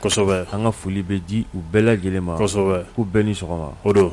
kosɛbɛ an ka foli bɛ di u bɛɛ lajɛlen ma kosɛbɛ k'u bɛɛ ni sɔgɔma o don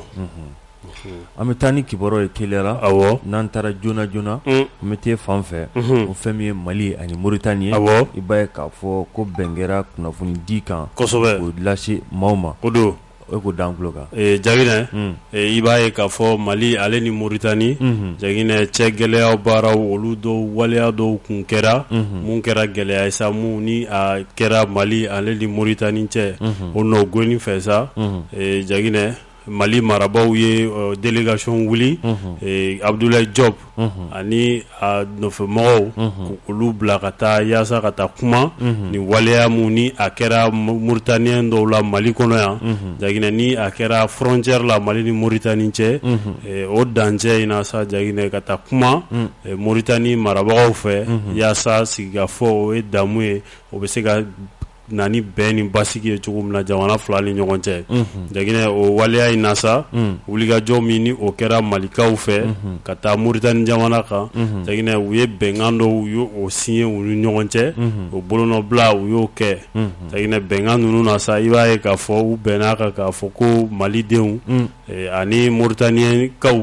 an bɛ taa ni kibaruya ye teliya la a n'an taara joona joona an bɛ taa fan fɛ o fɛn min ye mali ani moritani ye a i b'a ye k'a fɔ ko bɛn kɛra kunnafoni di kan kosɛbɛ o lase maaw ma o don o ko d'an tulo kan jaginɛ i b'a ye k'a fɔ mali ale ni moritani jaginɛ cɛ gɛlɛya baaraw olu dɔw waleya dɔw kun kɛra mun kɛra gɛlɛya ye sa mun ni a kɛra mali ale ni moritani cɛ o nɔ goni fɛ sa jaginɛ mali marabaaw ye délégation wuli abudulayi jɔpu ani a nɔfɛmɔgɔw olu bila ka taa yaasa ka taa kuma ni waleya mun ni a kɛra moritaniyɛn dɔw la mali kɔnɔ yan jaginɛ ni a kɛra frontière la mali ni moritani cɛ o dancɛ in na sa jaginɛ ka taa kuma moritani marabagaw fɛ yaasa sigikafɔ o ye damu ye o bɛ se ka na ni bɛn ni basigi ye cogo min na jamana fila ni ɲɔgɔn cɛ jaginɛ o waleya in na sa wulikajɔ min ni o kɛra malikaw fɛ ka taa moritani jamana kan jaginɛ u ye bɛnkan dɔw u y'o signé u ni ɲɔgɔn cɛ o bolonɔbila u y'o kɛ jaginɛ bɛnkan ninnu na sa i b'a ye k'a fɔ u bɛnna a kan k'a fɔ ko malidenw ani moritanikaw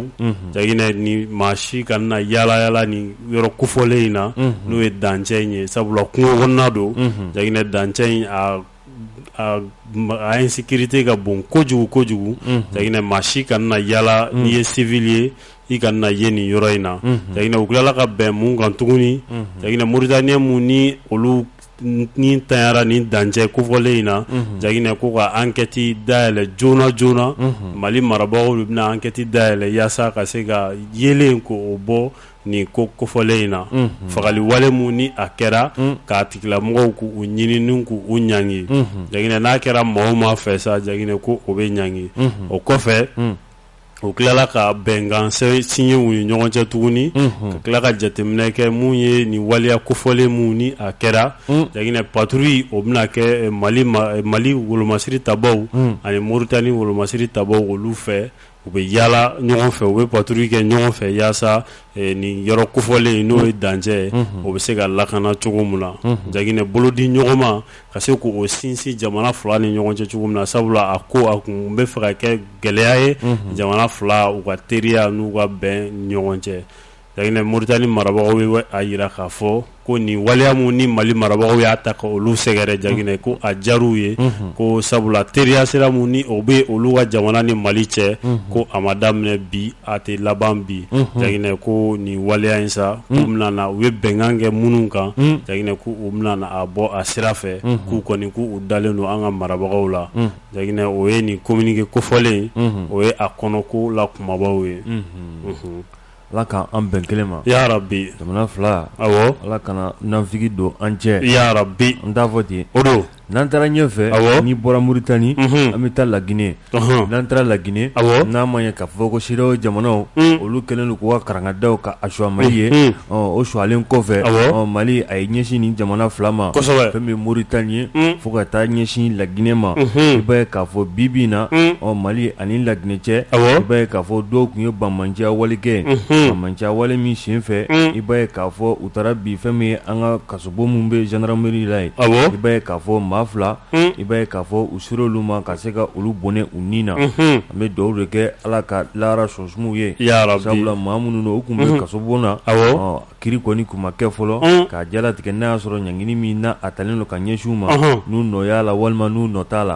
jaginɛ ni maa si kana yaalayaala ni yɔrɔ kofɔlen in na n'o ye dancɛ in ye sabula kungo kɔnɔna don jaginɛ dancɛ in a insécurité ka bon kojugu kojugu jaginɛ maa si kana yaala n'i ye civil ye i kana ye nin yɔrɔ in na jaginɛ u tilala ka bɛn mun kan tuguni jaginɛ moritaniyɛn mun ni olu ni tanyara ni dancɛ kofɔlen in na jaginɛ ko ka enquête dayɛlɛ joona joona mali marabagaw de bɛna enquête dayɛlɛ yaasa ka se ka yeelen k'o bɔ nin ko kofɔlen in na fagali wale min ni a kɛra k'a tigilamɔgɔw k' u ɲini ni k' u ɲangi jaginɛ n'a kɛra maa o maa fɛ sa jaginɛ ko o bɛ ɲangi o kɔfɛ u tilala ka bɛnkan signé u ni ɲɔgɔn cɛ tuguni ka tila ka jateminɛ kɛ mun ye nin waleya kofɔlen mun ni a kɛra jaginɛ patrouille o bɛna kɛ mali wolomasiri tabaw ani moritani wolomasiri tabaw olu fɛ u bɛ yaala ɲɔgɔn fɛ u bɛ patrouille kɛ ɲɔgɔn fɛ yaasa nin yɔrɔ kofɔlen n'o ye dancɛ ye o bɛ se ka lakana cogo min na jaginɛ bolodi ɲɔgɔnma ka se k' o sinsin jamana fila ni ɲɔgɔn cɛ cogo min na sabula a ko a kun bɛ fɛ ka kɛ gɛlɛya ye jamana fila u ka teriya n'u ka bɛn ɲɔgɔn cɛ jaginɛ moritani marabagaw y'a yira k'a fɔ ko nin waleya mun ni mali marabagaw y'a ta ka olu sɛgɛrɛ jaginɛ ko a diyara u ye ko sabula teriya sira mun ni o bɛ olu ka jamana ni mali cɛ ko a ma daminɛ bi a tɛ laban bi jaginɛ ko nin waleya in sa k'u bɛna na u ye bɛnkan kɛ minnu kan jaginɛ ko u bɛna na a bɔ a sira fɛ k'u kɔni k' u dalen don an ka marabagaw la jaginɛ o ye nin kominike kofɔlen o ye a kɔnɔko la kumabaw ye ala k' an bɛn kelen ma yarabi jamana fila ala kana nafigi don an cɛ yarabi n t'a fɔ ten o don N'an taara ɲɛ fɛ n'i bɔra moritani an bɛ taa laginɛ n'an taara laginɛ n'a ma ye k'a fɔ ko CEDEAO jamanaw olu kɛlen don k'u ka karangadaw k'a suwa mali ye o suwalen kɔfɛ mali a ye ɲɛsin nin jamana fila ma fɛn min ye moritani ye fo ka taa ɲɛsin laginɛ ma i b'a ye k'a fɔ bi bi in na ɔ mali ani laginɛ cɛ i b'a ye k'a fɔ dɔw tun ye banbaanciya wale kɛ banbaanciya wale min sen fɛ i b'a ye k'a fɔ u taara bi fɛn min ye an ka ka bon min bɛ zandarameri la ye i b'a ye k'a fɔ maa fila i b'a ye k'a fɔ u sera olu ma ka se ka olu bɔnɛ u ni na an bɛ dugawu de kɛ ala ka lahara so suma u ye sabula maa minnu don u tun bɛ kaso bon na kiri kɔni kun ma kɛ fɔlɔ k'a jalatigɛ n'a y'a sɔrɔ ɲangini min na a talen don ka ɲɛsin u ma n'u nɔ y'a la walima n'u nɔ t'a la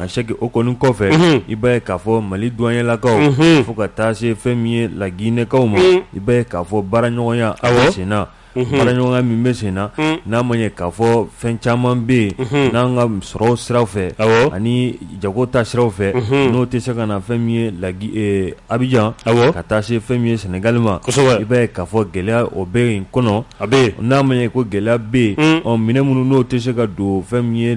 a c'est que o kɔni kɔfɛ i b'a ye k'a fɔ mali duwanilakaw fo ka taa se fɛn min ye laginɛkaw ma i b'a ye k'a fɔ baara ɲɔgɔnya a bɛ senna baaraɲɔgɔnya min bɛ sen na n'a ma ye k'a fɔ fɛn caman bɛ yen n'an ka sɔrɔ siraw fɛ ani jago ta siraw fɛ n'o tɛ se ka na fɛn min ye lagi abijan ka taa se fɛn min ye sɛnɛgali ma i b'a ye k'a fɔ gɛlɛya o bɛ yen kɔnɔ a bɛ n'a ma ye ko gɛlɛya bɛ yen ɔ minɛn minnu n'o tɛ se ka don fɛn min ye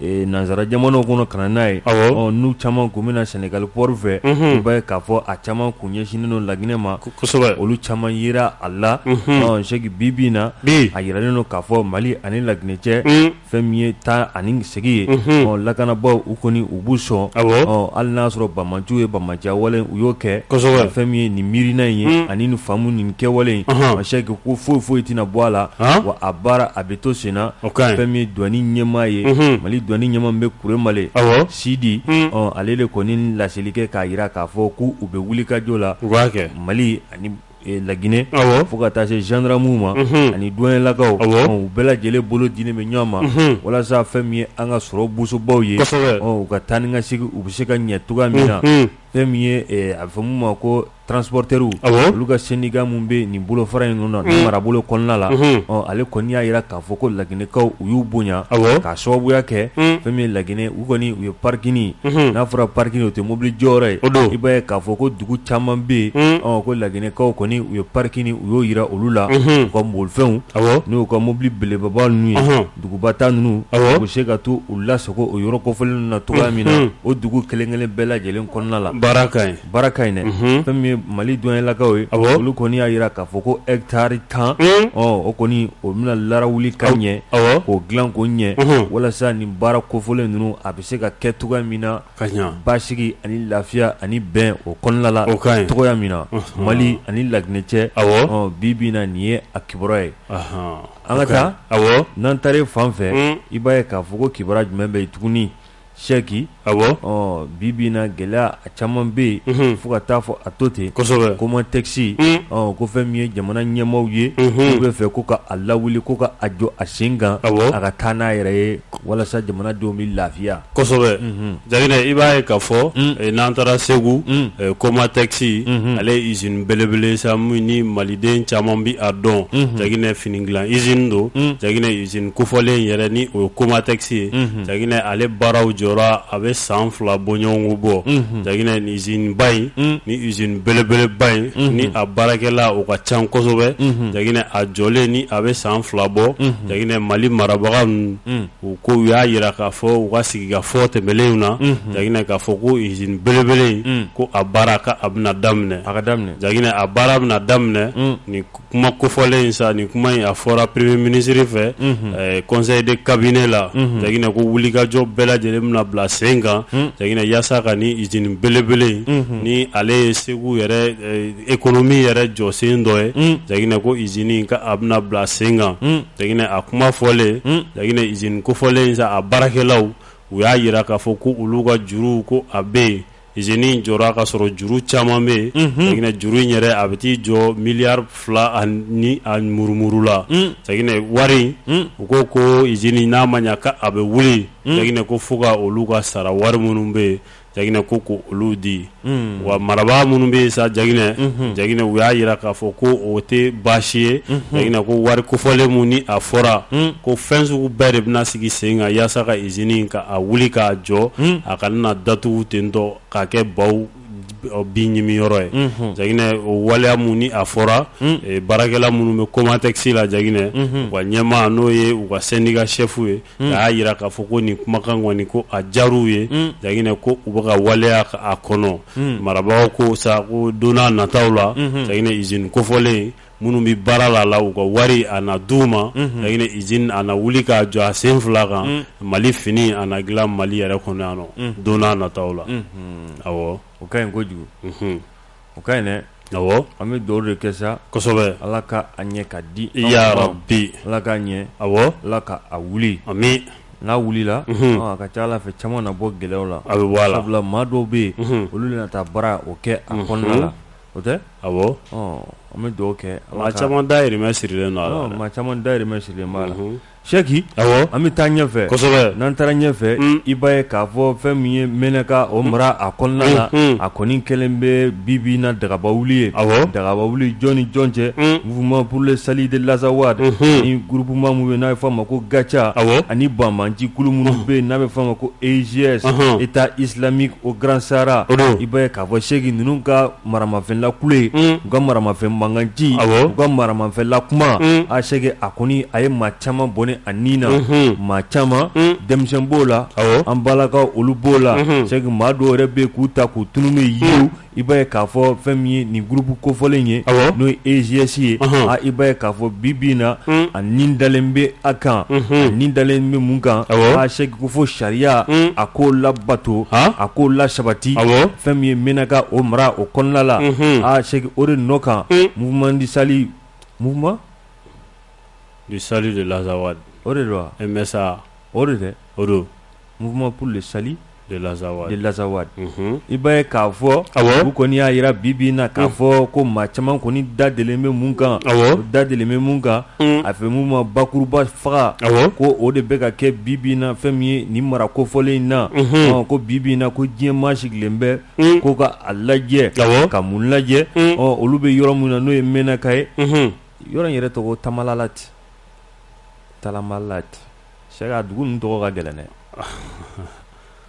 nansara jamanaw kɔnɔ ka na n'a ye n'u caman tun bɛ na sɛnɛgali pɔri fɛ i b'a ye k'a fɔ a caman kun ɲɛsinnen don laginɛ ma kosɛbɛ olu caman yera a la c'est que bi bi in na a yiralen don k'a fɔ mali ani laginɛ cɛ fɛn min ye taa ani segin ye lakanabaw u kɔni u b'u sɔn hali n'a y'a sɔrɔ banbaanciw ye banbaanciya wale u y'o kɛ fɛn min ye nin miirina in ye ani nin famu nin kɛwale in c'est que ko foyi foyi tɛna bɔ a la wa a baara a to senna fɛn min ye duwani ɲɛmaa ye mali duwani ɲɛmaa min bɛ kuremale sidi ale de kɔni laseli kɛ k'a jira k'a fɔ k' u bɛ wulikajɔ la u b'a kɛ mali ani laginɛ fo ka taa se zandaramuw ma ani duwanilakaw u bɛɛ lajɛlen bolo dilen bɛ ɲɔgɔn ma walasa fɛn min ye an ka sɔrɔ bosobaw ye u ka taa ni ka segin u bɛ se ka ɲɛ cogoya min na fɛn min ye a bɛ fɔ min ma ko transporteurs awɔ olu ka syndicat minnu bɛ nin bolofara in ninnu na nin marabolo kɔnɔna la ale kɔni y'a jira k'a fɔ ko laginɛkaw u y'u bonya awɔ k'a sababuya kɛ fɛn min ye laginɛ u kɔni u ye parkini n'a fɔra parkini o tɛ mobili jɔyɔrɔ ye o don i b'a ye k'a fɔ ko dugu caman bɛ yen ko laginɛkaw kɔni u ye parkini u y'o jira olu la u ka bolifɛnw awɔ n'u ka mobili belebeleba ninnu ye duguba ta ninnu awɔ u bɛ se ka t'u lasago o yɔrɔ kofɔlen ninnu na cogoya min na o dugu kelen-kelen bɛɛ lajɛlen kɔnɔna la baara ka ɲi. baara ka ɲi dɛ Unhun fɛn min ye Mali douanelakaw ye awɔ olu kɔni y'a jira k'a fɔ ko hectare 10 un ɔ o kɔni o bɛna larawuli ka ɲɛ awɔ k'o dilan k'o ɲɛ Unhun walasa nin baara kofɔlen ninnu a bɛ se ka kɛ cogoya min na ka ɲa basigi ani lafiya ani bɛn o kɔnɔna la o ka ɲi cogoya min na Unhun Mali ani La Guinée cɛ awɔ ɔ bi bi in na nin ye a kibaruya ye anhan an ka taa awɔ n'an taar'e fan fɛ un i b'a ye k'a fɔ ko kibaruya jumɛn bɛ yen tuguni Sɛki bi bi in na gɛlɛya a caman bɛ yen fo ka taa fɔ a to ten Comatex ko fɛn min ye jamana ɲɛmaaw ye u bɛ fɛ ko ka a lawuli ko ka a jɔ a sen kan a ka taa n'a yɛrɛ ye walasa jamanadenw bɛ lafiya Jaginɛ i b'a ye k'a fɔ n'an taara Segu Comatex ale ye usine belebele sa min ni maliden caman bɛ a dɔn Jaginɛ fini dilan usine don Jaginɛ usine kofɔlen yɛrɛ ni o ye Comatex ye Jaginɛ ale baaraw jɔra a bɛ san fila bɔɲɔgɔn bɔ Jaginɛ ni usineba in ni usine belebeleba in ni a baarakɛla u ka ca kosɛbɛ Jaginɛ a jɔlen ni a bɛ san fila bɔ Jaginɛ Mali marabaga ninnu u ko u y'a jira k'a fɔ u ka sigikafɔ tɛmɛlenw na Jaginɛ k'a fɔ ko usine belebele in ko a baara a bɛna daminɛ a ka daminɛ Jaginɛ a baara bɛna daminɛ kuma kofɔlen in sa ni kuma in a fɔra premier ministre fɛ conseil de cabinet la Jaginɛ ko wulikajɔ bɛɛ lajɛlen bɛna bila sen kan Jaginɛ yaasa ka ni usine belebele in ni ale ye Segu yɛrɛ économie yɛrɛ jɔsen dɔ ye Jaginɛ ko usine k'a bɛna bila sen kan Jaginɛ a kuma fɔlen Jaginɛ usine kofɔlen in sa a baarakɛlaw u y'a jira k'a fɔ ko olu ka juruw ko a bɛ yen usine in jɔra ka sɔrɔ juru caman bɛ yen Jaginɛ juru in yɛrɛ a bɛ t'i jɔ miliyari fila ni a murumuru la Jaginɛ wari u ko ko usine n'a ma ɲɛ k'a bɛ wuli Jaginɛ ko fo ka olu ka sara wari minnu bɛ yen Jaginɛ ko ko olu di wa marabaa minnu bɛ yen sa Jaginɛ Jaginɛ u y'a jira k'a fɔ ko o tɛ baasi ye Jaginɛ ko wari kofɔlen minnu ni a fɔra ko fɛn sugu bɛɛ de bɛna sigi sen kan yaasa usine ka a wuli k'a jɔ a kana datugu ten tɔ k'a kɛ baw bin ɲimi yɔrɔ ye Jaginɛ o waleya minnu ni a fɔra baarakɛla minnu bɛ Comatex la Jaginɛ u ka ɲɛmaa n'o ye u ka syndicat chef ye a y'a jira k'a fɔ ko nin kumakan kɔni ko a diyar'u ye Jaginɛ ko u bɛ ka waleya a kɔnɔ marabaaw ko sa ko don nataw la Jaginɛ usine kofɔlen minnu bɛ baara la la u ka wari a na d'u ma jaginɛ usine a na wuli k'a jɔ a sen fila kan mali fini a na dilan mali yɛrɛ kɔnɔ yan don nataw la awɔ o ka ɲi kojugu o ka ɲi an bɛ dugawu de kɛ sa kosɛbɛ ala ka a ɲɛ ka di ya rabi ala k'a ɲɛ awɔ ala ka a wuli amiina n'a wulila a ka ca a la fɛn caman na bɔ gɛlɛyaw la a bɛ bɔ a la sabula maa dɔw bɛ yen olu de na taa baara o kɛ a kɔnɔna la o tɛ awɔ an bɛ dugawu kɛ maa caman dahirimɛ sirilen maa caman dahirimɛ sirilen b'a la sɛki an bɛ taa ɲɛfɛ n'an taara ɲɛfɛ i b'a ye k'a fɔ fɛn min ye menaka o mara a kɔnɔna la a kɔni kɛlen bɛ bi bi na dagaba wuli ye a dagaba wuli jɔn ni jɔn cɛ mouvement pour le salut de l'Azawad ani groupement min ye n'a bɛ fɔ a ma ko gatia awɔ ani banbaanci kulu minnu bɛ n'a bɛ fɔ a ma ko EGS État islamique au Grand Sahara i a fɔ sɛki ninnu ka maramafɛn lakule u ka maramafɛn mankanci u ka maramafɛn lakuma a sɛki a kɔni a ye maa caman bɔnɛ a nin na maa caman denmisɛn b'o la an balakaw olu b'o la sɛki maa dɔw yɛrɛ bɛ k'u ta k'u tunun n'u ye yiriw i b'a ye k'a fɔ fɛn min ye nin groupe kofɔlen ye n'o ye EGS ye i b'a ye k'a fɔ bi bi in na a ni dalen bɛ a kan a ni dalen bɛ mun kan a sɛki ko fo sariya a k'o labato a k'o lasabati fɛn min ye menaka o mara o kɔnɔna la a sɛki o de nɔ kan mouvement du salut mouvement du salut de l'Azawad o de don MSA o de o don Mouvement pour le salut de l'Azawad, de l'Azawad. Mm -hmm. i b'a ye k'a fɔ awɔ u kɔni y'a yira bi bi na k'a mm. fɔ ko maa caman kɔni da delilen bɛ mun kan awɔ u da delilen bɛ mun kan mm. a fɛn mun maa bakuruba faga awɔ ko o de bɛ ka kɛ bi bi na fɛn min ye nin mara kofɔlen in na mm -hmm. ko bi bi na ko diɲɛ maa sigilen bɛ mm. ko ka a lajɛ awɔ ka mun lajɛ mm. ɔ olu bɛ yɔrɔ min na n'o ye menaka ye mm -hmm. yɔrɔ in yɛrɛ tɔgɔ tamalalati talamalati Sɛki a dugu ninnu tɔgɔ ka gɛlɛn dɛ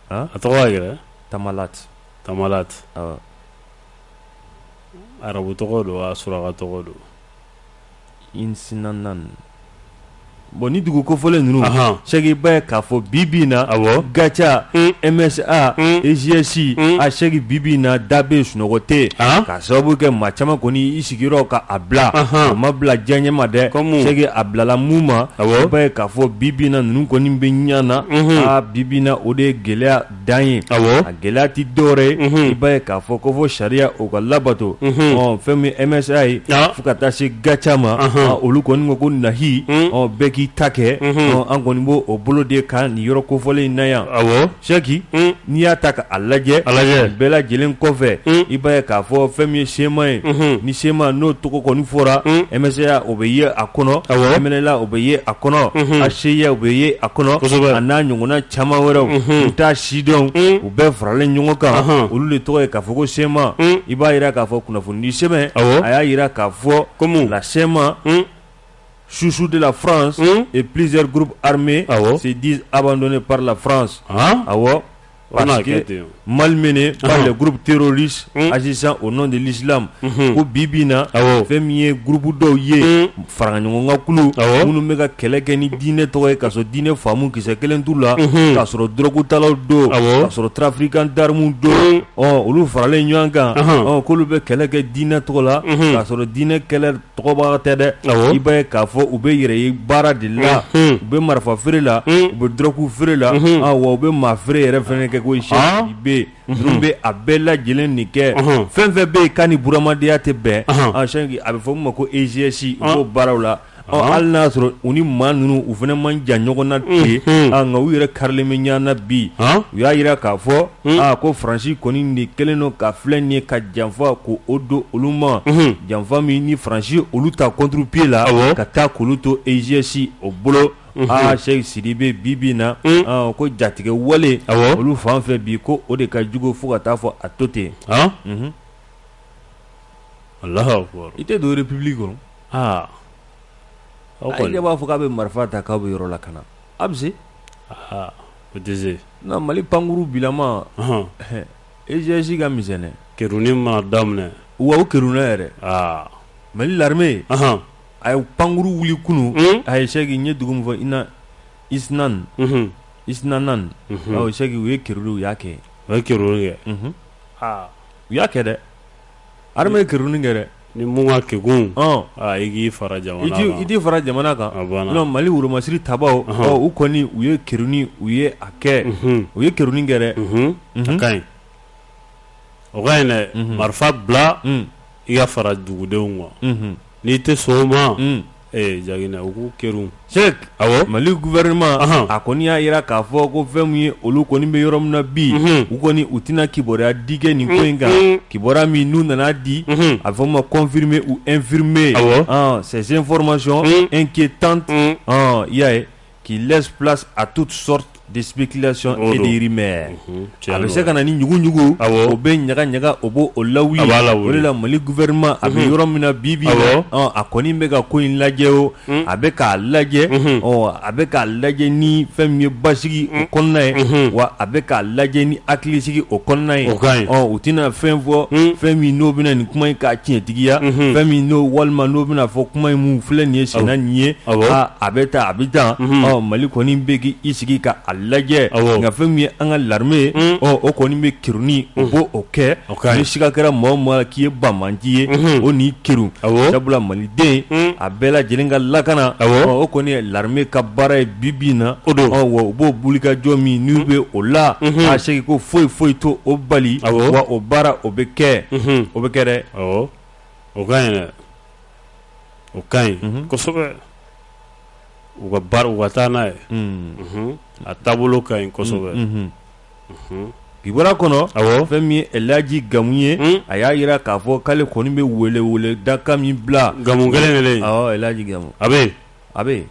a tɔgɔ yɛrɛ tamala tamalati arabu tɔgɔ don a suraka tɔgɔ don insinanan bon nin dugu kofɔlen ninnu sɛki i b'a ye k'a fɔ bi bi in na a gatia MSA EGS a sɛki bi bi in na da bɛ sunɔgɔ tɛ sababu kɛ maa caman kɔni i sigiyɔrɔ ka a bila a ma bila diyanye ma dɛ sɛki a bilala mun ma i b'a ye k'a fɔ bi bi in na ninnu kɔni bɛ ɲɔgɔn na a bi bi in na o de ye gɛlɛya dan ye a gɛlɛya tɛ dɔwɛrɛ ye i b'a ye k'a fɔ ko fo sariya o ka labato ɔ fɛn min MSA ye fo ka taa se gatia ma olu kɔni ma ko nahi bɛɛ k'i ta kɛ an kɔni b' o bolo de kan nin yɔrɔ kofɔlen in na yan Seki n'i y'a ta k'a lajɛ a lajɛ bɛɛ lajɛlen kɔfɛ i b'a ye k'a fɔ fɛn min ye CMA ye ni CMA n'o tɔgɔ kɔni fɔra MSA o bɛ ye a kɔnɔ MNLA o bɛ ye a kɔnɔ HCUA o bɛ ye a kɔnɔ a n'a ɲɔgɔnna caman wɛrɛw u t'a si dɔn u bɛɛ faralen ɲɔgɔn kan olu de tɔgɔ ye k'a fɔ ko CMA i b'a jira k'a fɔ kunnafoni di sɛbɛn a y'a jira k'a fɔ ko la CMA chouchou de la france et plusieurs groupes armés se disent abandonnés par la france awɔ parce que malmenés par les groupes terroristes agissant au nom de l'islam ko bi bi in na fɛn min ye groupe dɔw ye faraɲɔgɔnkan kulu minnu bɛ ka kɛlɛ kɛ ni diinɛ tɔgɔ ye k'a sɔrɔ diinɛ faamu kisɛ kelen t'u la k'a sɔrɔ dɔrɔgutalaw don k'a sɔrɔ trafiquants d'armes don ɔ olu faralen ɲɔgɔn kan ɔ k'olu bɛ kɛlɛ kɛ diinɛ tɔgɔ la k'a sɔrɔ diinɛ kɛlɛ tɔgɔbaga tɛ dɛ Awɔ. i b'a ye k'a fɔ u bɛ yɛrɛ ye baara de la Mhm. u bɛ marifa feere la u bɛ dɔrɔgu feere la ah, wa u bɛ maa feere yɛrɛ fana kɛ koyi Ah. Seki bɛ yen ninnu bɛ a bɛɛ lajɛlen nin kɛ Mhm. fɛn fɛn bɛ yen k'a ni buramadenya tɛ bɛn Ahan. ah, Seki a bɛ fɔ min ma ko EGS u b'o baaraw la Ɔ, hali n'a y'a sɔrɔ u ni maa ninnu u fana man jan ɲɔgɔn na ten Mhm. ah, nka u yɛrɛ karilen bɛ ɲɔgɔn na bi Ah. u y'a jira k'a fɔ aa ko faransi kɔni de kɛlen don ka filɛ nin ye ka janfa ko o don olu ma janfa min ni faransi olu ta contre pied la ka taa k'olu to EGS o bolo aa Seki Sidibe bi bi na ko jatigɛwale olu fan fɛ bi ko o de ka jugu fo ka taa fɔ a to ten yen wala i tɛ don république kɔnɔ aa aw b'a fɔ k'a bɛ marifa ta k'a bɛ yɔrɔ lakana a bɛ se O tɛ se nka mali pankurun bilama EGS ka misɛn dɛ keruni ma daminɛ wa keruni yɛrɛ aa mali l'armée a ye pankurun wili kunun a ye seki n ye dugu min fɔ i na isnan isnanan seki u ye keruni u y'a kɛ u ye keruni kɛ u y'a kɛ dɛ armée ye keruni kɛ dɛ Ni mun ka kegun ɔn aa i k'i fara jamana kan i k'i i t'i fara jamana kan a banna sinon Mali woromasiri tabaaw ɔnhɔn ɔ u kɔni u ye keruni u ye a kɛ unhun u ye keruni kɛ dɛ unhun a ka ɲi o ka ɲi dɛ unhun marifa bila un i ka fara dugudenw kan unhun n'i tɛ sɔn o ma un Ee ja u ko ke se mali guɛma a ko n'i y'a jira k'a fɔ ko fɛn ye olu kɔni bɛ yɔrɔ min na bi u kɔni u tɛna kibaruyaya dikɛ nin ko in kan kiba min n'u nana di a fɔ ma kɔnfime u efirime sɛsenfmasɔn n ke tan y'a ye qui laisse place à toutes sortes de spéculations et de rumeurs a bɛ se ka na ni ɲuguɲugu o bɛ ɲagaɲaga o b'o lawuli o de la Mali gouvernement a bɛ yɔrɔ min na bi bi in na a kɔni bɛ ka ko in lajɛ o a bɛ k'a lajɛ a bɛ k'a lajɛ ni fɛn min ye basigi o kɔnɔna ye wa a bɛ k'a lajɛ ni hakilisigi o kɔnɔna ye u tɛna fɛn fɔ fɛn min n'o bɛna nin kuma in k'a tiɲɛ. tigiya fɛn min n'o walima n'o bɛna fɔ kuma in min filɛ nin ye sen na nin ye a bɛ tan a bɛ tan mali kɔni bɛ k'i sigi k'a lajɛ nka fɛn min ye an ka l'armée o kɔni bɛ kerunni o b'o kɛ ni siga kɛra maa o maa k'i ye banbaanci ye o n'i kerun sabula maliden a bɛɛ lajɛlen ka lakana o kɔni ye l'armée ka baara ye bibi na o don wa u b'o wulikajɔ min n'u bɛ o la a seki ko foyi foyi t'o bali wa o baara o bɛ kɛ o bɛ kɛ dɛ o ka ɲi o ka ɲi kosɛbɛ u ka baara u ka taa n'a ye a taabolo ka ɲi kosɛbɛ kibaruya kɔnɔ awɔ fɛn min ye elaji gamu ye a y'a jira k'a fɔ k'ale kɔni bɛ weleweledakan min bila gamu kelen elaji gamu a bɛ a bɛ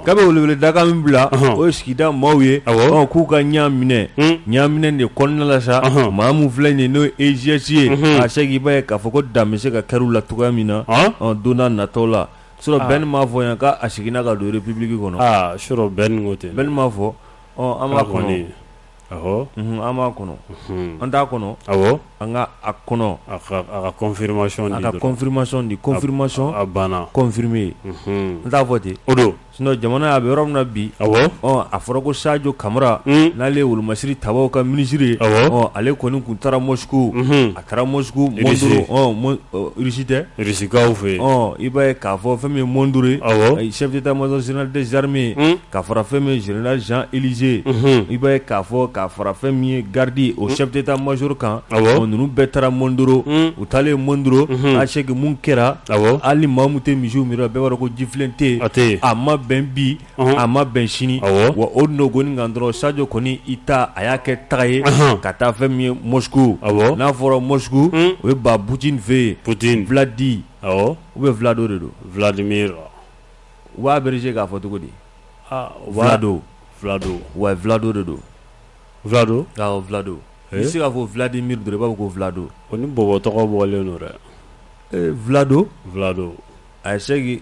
k'a bɛ weleweledakan min bila o ye sigida maaw ye k'u ka ɲa minɛ ɲaminɛ de kɔnɔna la sa maa min filɛ nin n'o EIGS ye a se k'i b'a ye k'a fɔ ko dan bɛ se ka kari u la cogoya min na don nataw la surɔ bɛn m'a fɔ yan k'a seginna ka don république kɔnɔ surɔ bɛn ko tɛ bɛn m'a fɔ an b'a kɔn an' kɔnɔ an t'a kɔnɔ an ka a kɔnɔ kɔnmaya n t'a fɔ ten o don jamana a bɛ yɔrɔ min na bi a fɔra ko sajɔ kamalenra n'ale ye wolomasiri ta ka minisiriri ye ale kɔni tun taara mosu Kɛra mori tɛsikaw fɛ i b'a k'a fɔ fɛn min mɔn duuru ye sɛbɛnta maz sinainaden zrime ye ka fara fɛn min zina zan ze i b'a k'a fɔ ka fara fɛn min ye garidi o sɛbɛnta mazuru kan ninnu bɛɛ taara mɔn duuru u taalen mɔn duuru a seki minnu kɛra ali mamu tɛ misi mi bɛɛ' ko jifilen tɛ a tɛ a ma bɛn bi a ma bɛn sini wa o nɔgɔni kan dɔrɔn sajo kɔni i ta a y'a kɛ taga ye ka taa fɛn min ye Moscou n'a fɔra Moscou o ye ba Poutine fɛ yen Vladi ou bien Vlado de don Vladimir u b'a abréger k'a fɔ cogo di Vlado Vlado wa Vlado de don Vlado Vlado i se k'a fɔ Vladimir dɔrɔn i b'a fɔ ko Vlado ko ni bɔbɔ tɔgɔ bɔlen don dɛ Vlado Vlado a ye se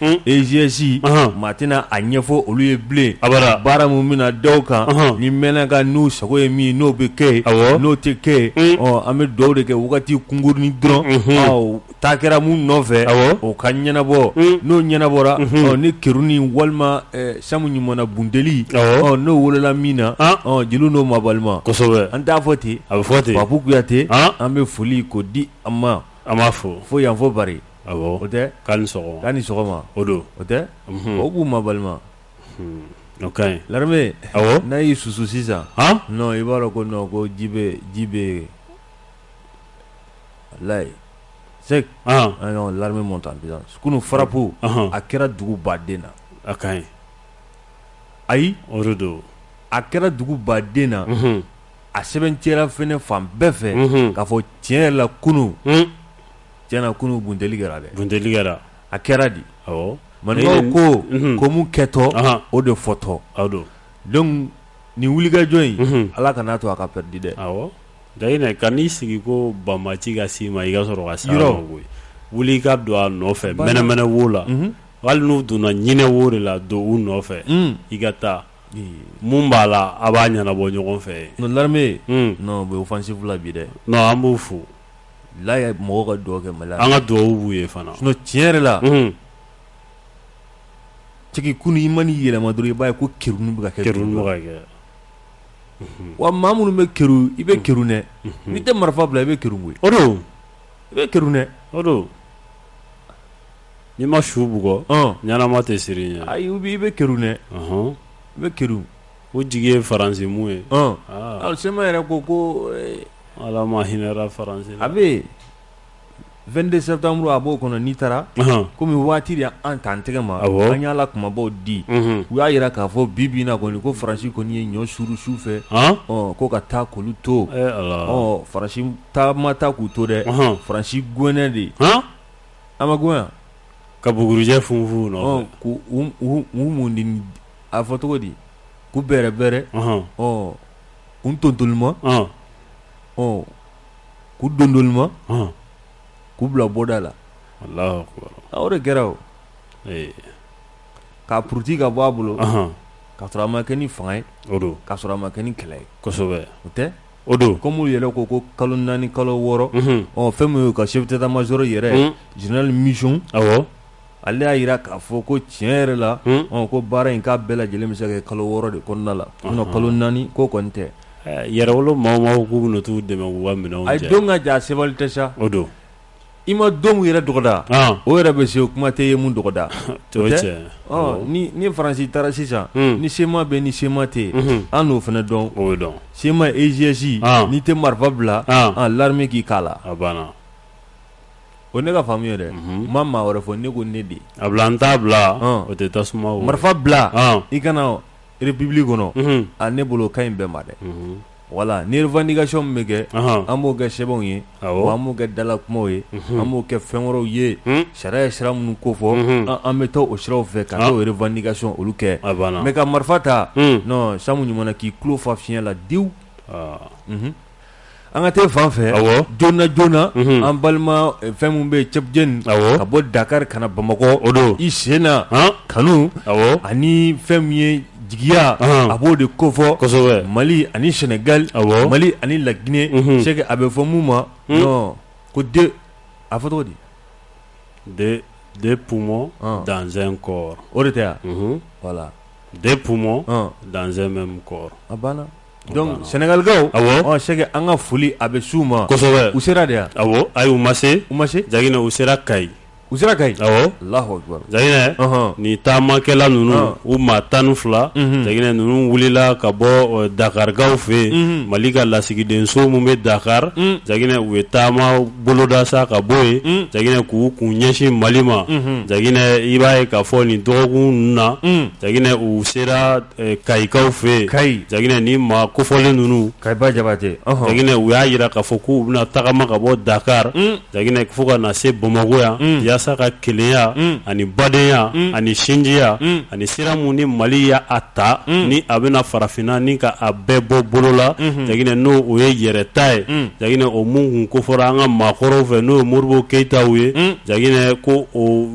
EIGS maa tɛna a ɲɛfɔ olu ye bilen a baara min bɛna da o kan ni mɛnaka n'u sago ye min n'o bɛ kɛ n'o tɛ kɛ an bɛ dɔw de kɛ wagati kunkurunin dɔrɔn taa kɛra min nɔfɛ o ka ɲɛnabɔ n'o ɲɛnabɔra ni keruni walima samu ɲumanna bunteli n'o wolola min na jeliw n'o mabalima kosɛbɛ an t'a fɔ ten a bɛ fɔ ten papu kuyate an bɛ foli k'o di an ma an b'a fɔ fo yan fɔ o tɛ k'a ni k'a ni sɔgɔma o don o tɛ o k'u mabalima ka ɲi l'armée n'a y'i susu sisan non i b'a dɔn ko non ko ji bɛ ji bɛ yen layi c'est l'armée monte en kunun frappe a kɛra dugu baden na a ka ɲi ayi o don a kɛra dugu baden na a sɛbɛntiyara fɛnɛ fan bɛɛ fɛ k'a fɔ tiɲɛ yɛrɛ la kunun Tiɲɛna kunun bunteli kɛra dɛ, bunteli kɛra, a kɛra di, awɔ, maninkaw ko, unhun, ko min kɛtɔ, anhan, o de fɔtɔ, o don, donc nin wulikajɔ in, unhun, Ala kan'a to a ka perdu dɛ, awɔ, Gayinɛ kan'i sigi ko banbaci ka s'i ma i ka sɔrɔ ka s'a ma koyi, wuli i ka don a nɔfɛ mɛnɛmɛnɛ wo la, unhun, hali n'u donna ɲinɛ wo de la don u nɔfɛ, un, i ka taa, mun b'a la a b'a ɲɛnabɔ ɲɔgɔn fɛ yen, non l'armée, un, non u bɛ offensive la bi dɛ, non an b'u fo ye mɔgɔ ka dɔgɔ kɛ mali an ka dugawu ye fana tiɲɛ yɛrɛ la tigi kun i man yɛlɛma i b'a ye ko ki bɛ kɛ kɛ wa ma minnu bɛ ki i bɛ ki dɛ n tɛ marifa bila i bɛ ki o don i bɛ ki dɛ o don ni ma su bugɔ ɲma tɛ siri i bɛ ki dɛ i bɛ ki O jigi ye faransi min ye CMA yɛrɛ ko ko ala ma hinɛra faransi la a bɛ vingt-deux septembre a b'o kɔnɔ n'i taara kɔmi waati de an ta an tɛgɛ ma a an y'ala kumabaw di u y'a jira k'a fɔ bi bi in na kɔni ko faransi kɔni ye ɲɔ suuru su fɛ ko ka taa k'olu to faransi ma taa k'u to dɛ faransi gɛnna de an ma gɛn ka bugurujɛ funfun k'u mun di a fɔ cogo di k'u bɛrɛ bɛrɛ ɔ k'u tontolima ɔ k'u dondolima k'u bila bɔda la allahu akbar o de kɛra o ka puruti ka bɔ a bolo ka sɔrɔ a ma kɛ ni fanga ye o don ka sɔrɔ a ma kɛ ni kɛlɛ ye kosɛbɛ o tɛ o don kɔmi olu yɛrɛ ko ko kalo naani kalo wɔɔrɔ ɔ fɛn min ye u ka chef d'état-major yɛrɛ général michon ale y'a yira k'a fɔ ko tiɲɛ yɛrɛ la ko baara in k'a bɛɛ lajɛlen bɛ se ka kɛ kalo wɔɔrɔ de kɔnɔna la kalo naani ko kɔni tɛ yɛrɛwolo maa k'u t'u dɛmɛ minɛ a don ka jan a sebali tɛ sa o don i ma don min yɛrɛ dɔgɔda o yɛrɛ bɛ se o kuma tɛ ye mun dɔgɔda ni faransi taara sisan ni CMA bɛ ni CMA tɛ an n'o fana dɔn o dɔn CMA EIGS n'i tɛ marifa bila l'armée k'i k'a la O ne ka faamu ye dɛ ma maa wɛrɛ fɔ ne ko ne de a bila n t'a bila o tɛ tasuma marifa bila i ka na république kɔnɔ a ne bolo ka ɲi bɛɛ ma dɛ voilà ni revendication min bɛ kɛ an b'o kɛ sɛbɛnw ye an b'o kɛ dala kumaw ye an b'o kɛ fɛn wɛrɛw ye sariya ye sira minnu kofɔ an bɛ taa o siraw fɛ ka t'o revendication olu kɛ mais ka marifa ta non samu ɲuman k'i tulo fa fiɲɛ la diwu An ka taa fan fɛ joona joona an balima fɛn min bɛ tchep dien ka bɔ dakari ka na bamakɔ o don i sen na kanu ani fɛn min ye jigiya a b'o de kofɔ kosɛbɛ mali ani sɛnɛgali mali ani laginɛ c'est que a bɛ fɔ mun ma non ko a fɔ cogo di deux poumons dans un corps o de tɛ voilà deux poumons dans un même corps a banna Donc sɛnɛgalikaw c'est que an ka foli a bɛ s'u ma kosɛbɛ u sera de yan ayi u ma se u ma se jagina u sera kayi u sera kayi allahu akbar jagina nin taamakɛla ninnu u maa tan ni fila jagina ninnu wulila ka bɔ dakarikaw fɛ yen mali ka lasigidenso min bɛ dakari jagina u ye taama boloda sa ka bɔ yen jagina k'u kun ɲɛsin mali ma jagina i b'a ye k'a fɔ nin dɔgɔkun ninnu na jagina u sera kayikaw fɛ jagina ni maa kofɔlen ninnu kayiba jabatɛ jagina u y'a yira k'a fɔ k'u bɛna tagama ka bɔ dakari jagina fo ka na se bamakɔ yan yaasa ka kelenya ani badenya ani sinjiya ani sira min ni mali y'a ta ni a bɛna farafinna ni ka a bɛɛ bɔ bolo la jagina n'o o ye yɛrɛta ye jagina o min tun kofɔra an ka maakɔrɔw fɛ n'o ye modibo keyitaw ye jagina ko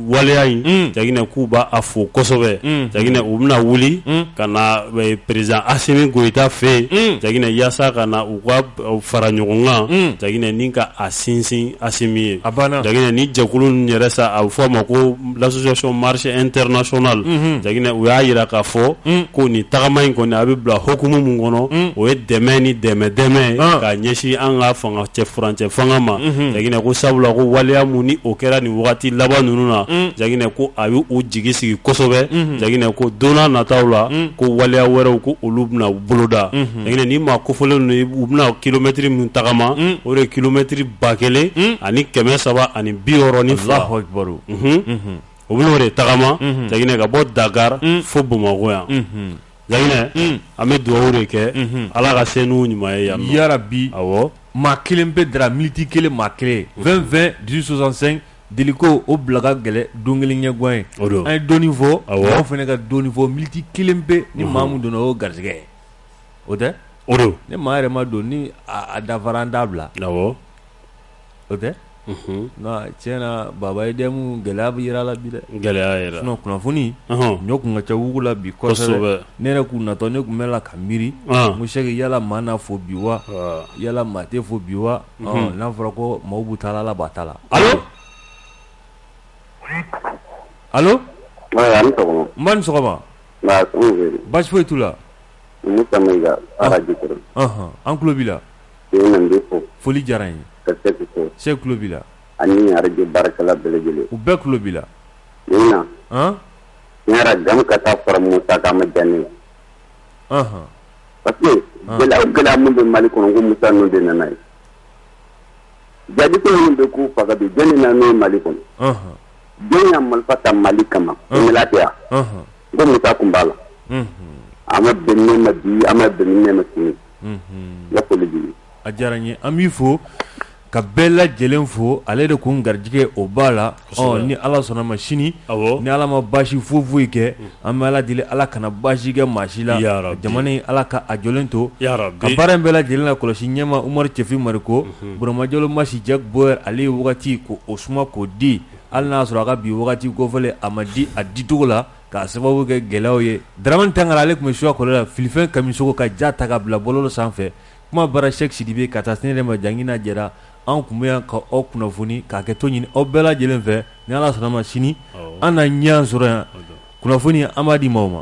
waleya in jagina k'u b'a fo kosɛbɛ jagina u bɛna wuli ka na président assimi goïta fɛ yen jagina yaasa ka na u ka fara ɲɔgɔn kan jagina ni ka a sinsin assimi ye jagina ni jɛkulu ninnu yɛrɛ sa a bɛ fɔ a ma ko l'association marche internationale jagina u y'a yira k'a fɔ ko nin tagama in kɔni a bɛ bila hukumu min kɔnɔ o ye dɛmɛ ni dɛmɛ dɛmɛ ka ɲɛsin an ka fa cɛ furancɛ fanga ma janginɛ ko sabula ko waleya minnu ni o kɛra nin waati laban ninnu na janginɛ ko a y' u jigi sigi kosɛbɛ janginɛ ko don nataw la ko waleya wɛrɛw ko olu bɛna boloda janginɛ ni maa kofɔlen ninnu u bɛna kilomɛtiri min tagama o de ye kilomɛtiri ba kelen ani kɛmɛ saba ani biwɔɔrɔ ni fila o bɛna o de tagama janginɛ ka bɔ dakari fo bamakɔ yan janginɛ an bɛ dugawu de kɛ ala ka se n'u ɲuman ye yan yarabi awɔ maa kelen pe dara miniti kelen maa kelen vingt vingt dix-huit soixante-cinq deliko o bila ka gɛlɛn don kelen ɲɛgwan ye o don an ye dɔɔnin fɔ aw fana ka dɔɔnin fɔ miniti kelen pe ni maa min donna o garisɛgɛ o tɛ o don ni maa yɛrɛ ma don ni a dafara an da bila o tɛ tiɲɛ na baba ye dɛmu gɛlɛya bɛ jira la bi dɛ gɛlɛya yɛrɛ sinon kunnafoni ɲɔ kun ka ca dugu la bi kosɛbɛ ne yɛrɛ kun natɔ ne tun bɛ la ka miiri n ko sɛki yala maa n'a fɔ bi wa yala maa t'a fɔ bi wa n'a fɔra ko maaw b'u ta la ala b'a ta la alo alo n ba ni sɔgɔma basi foyi t'u la an tulo b'i la foli diyara n ye sɛki fo sɛki tulo b'i la ani arajo baarakɛla bɛɛ lajɛlen u bɛɛ tulo b'i la nin na yɛrɛ jama ka taa fara musa kan ma diya ne ye parce que gɛlɛya gɛlɛya minnu bɛ mali kɔnɔ ko musa ninnu de nana ye jihadiko minnu bɛ k'u faga bi jɔnni na n'o ye mali kɔnɔ jɔn ye marifa ta mali kama o ɲɛla tɛ yan ko musa tun b'a la a ma bɛn ne ma bi a ma bɛn ne ma sini n ka foli b'i ye a diyara n ye an b'i fo ka bɛɛ lajɛlen fo ale de kun garijɛgɛ o b'a la ɔ ni ala sɔnna ma sini ni ala ma basi foyi foyi kɛ an bɛ ala deli ala kana basi kɛ maa si la jamana in ala ka a jɔlen to ka baara in bɛɛ lajɛlen la kɔlɔsi ɲɛma umaru cɛfin mariko burama jalo masi jack boyer ale ye wagati ko o suma k'o di hali n'a sɔrɔ a ka bi wagati kofɔlen a ma di a dicogo la k'a sababu kɛ gɛlɛyaw ye daramani tangara ale tun bɛ suwa kɔlɔ la filifɛn kamisoko ka ja ta ka bila bɔlɔlɔ sanfɛ kuma bara sɛki sidibe ka taa se n yɛrɛ ma jangina jɛra anw tun bɛ yan ka aw kunnafoni ka hakɛto ɲini aw bɛɛ lajɛlen fɛ ni ala sɔnna ma sini an na ɲɔgɔn sɔrɔ yan kunnafoni an b'a di maaw ma